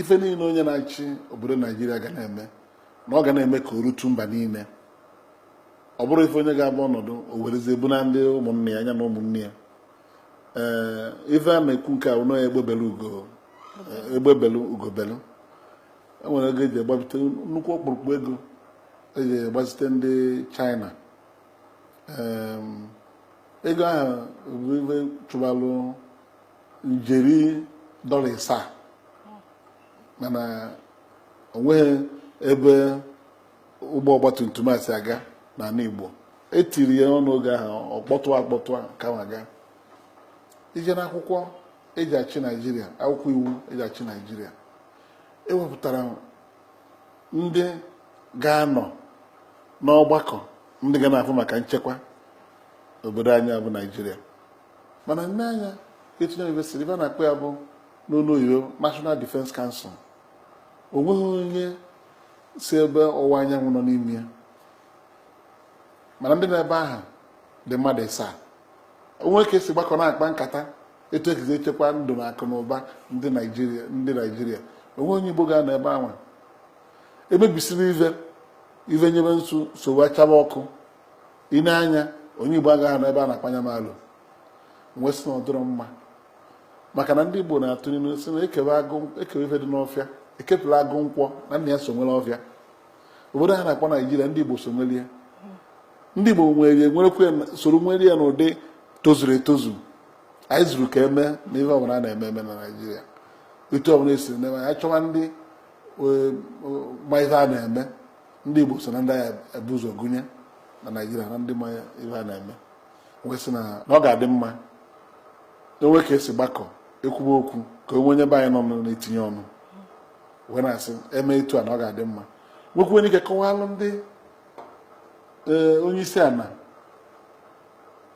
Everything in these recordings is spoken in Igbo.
ife niine onye na-achị obodo naijiria ga na-eme na ọ ga na-eme ka o rutu mba niine ọ bụrọ ife onye ga-aba ọnọdụ o werezie buna ndị ụmụnna ya na ụmụnne ya ee ife a na-ekwu nke a ụnọ ya egbe belu ugo egbe belu ugo belu o nwere ego eji agbapụta nnukwu ọkpụrụkpụ ego eji gbazite ndị china ego ahụ bụ ife chụbalụ njeri dọla ịsaa mana onweghị ebe ụgbọ ọgbatumtum a si aga n'ana Igbo etiri ya ọnụ oge ahụ ọkpọtụ akpọtụ a ka m ga i je n'akwụkwọ eji achị Naijiria akwụkwọ iwu eji achị Naijiria ewepụtara ndị ga-anọ n'ọgbakọ ndị ga na-afụ maka nchekwa obodo anyị bụ Naijiria mana i nee anya etu a n'ive si ive a na-akpọ ya bụ n'ọnụ oyibo National Defence Council o nweghị onye si ebe ọwụwa anyanwụ nọ n'ime ya mana ndị nọ ebe ahụ dị mmadụ ịsaa o nwee ka esi gbakọ na-akpa nkata etu esi echekwa ndụ na akụ na ụba ndị naijiria ndị naijiria o nweghị onye igbo ga-anọ ebe ahụ emebisibe ive ive nyebe nsogbu achaba ọkụ i nee anya onye igbo agaghị anọ ebe a na-akpa nya malụ wee sị na ọ dịrọ mma maka na ndị igbo na-atụ n'ilu sị na ekewe ife dị n'ọfịa ekepụla agụ nkwọ na nna ya so nwere ọfịa obodo a a na-akpọ naijiria ndị igbo so nwere ya ndị igbo soro nwere ya n'ụdị tozuru etozu anyị zuru ka eme na ihe ọbụla a na-eme eme na naijiria etu ọbụla esiri na-eme anyị chọwa ndị e, ma ihe a na-eme ndị Igbo so na ndị ga-ebu ụzọ gụnye na Naịjirịa na ndị ma ive a na-eme wee sị na ọ ga-adị mma o nwee ka esi gbakọ ekwuba okwu ka o nwee onye be anyị nọ na-etinye ọnụ wee na-asị eme etu a na ọ ga-adị mma nwekwuo ike kọwalụ ndị e, onye isi ana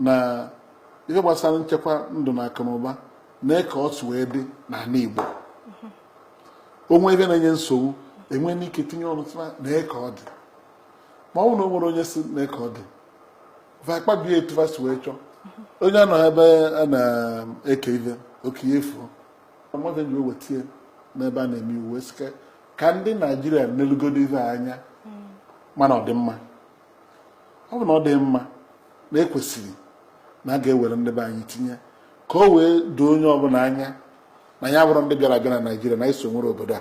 na ive gbasalụ nchekwa ndụ na akụ na ụba na ka o si wee dị n'ana Igbo o nwee ive na-enye nsogbu e nwee ike tinye ọnụ sị ma nee ka ọ dị ma ọ bụrụ na o nwerọ onye sị nee ka ọ dị va akpabie etu va si wee chọọ onye anọ ebe a na-eke ive oke ya efuo m ji wee tinye n'ebe a na-eme iwu sị ka ndị naijiria nelugodu ive anya mana ọ dị mma ọ bụ na ọ dị mma na ekwesịrị na a ga-ewere ndị be anyị tinye ka o wee doo onye ọbụla anya na anyị abụrọ ndị bịara abịa na naijiria na anyị so nwere obodo a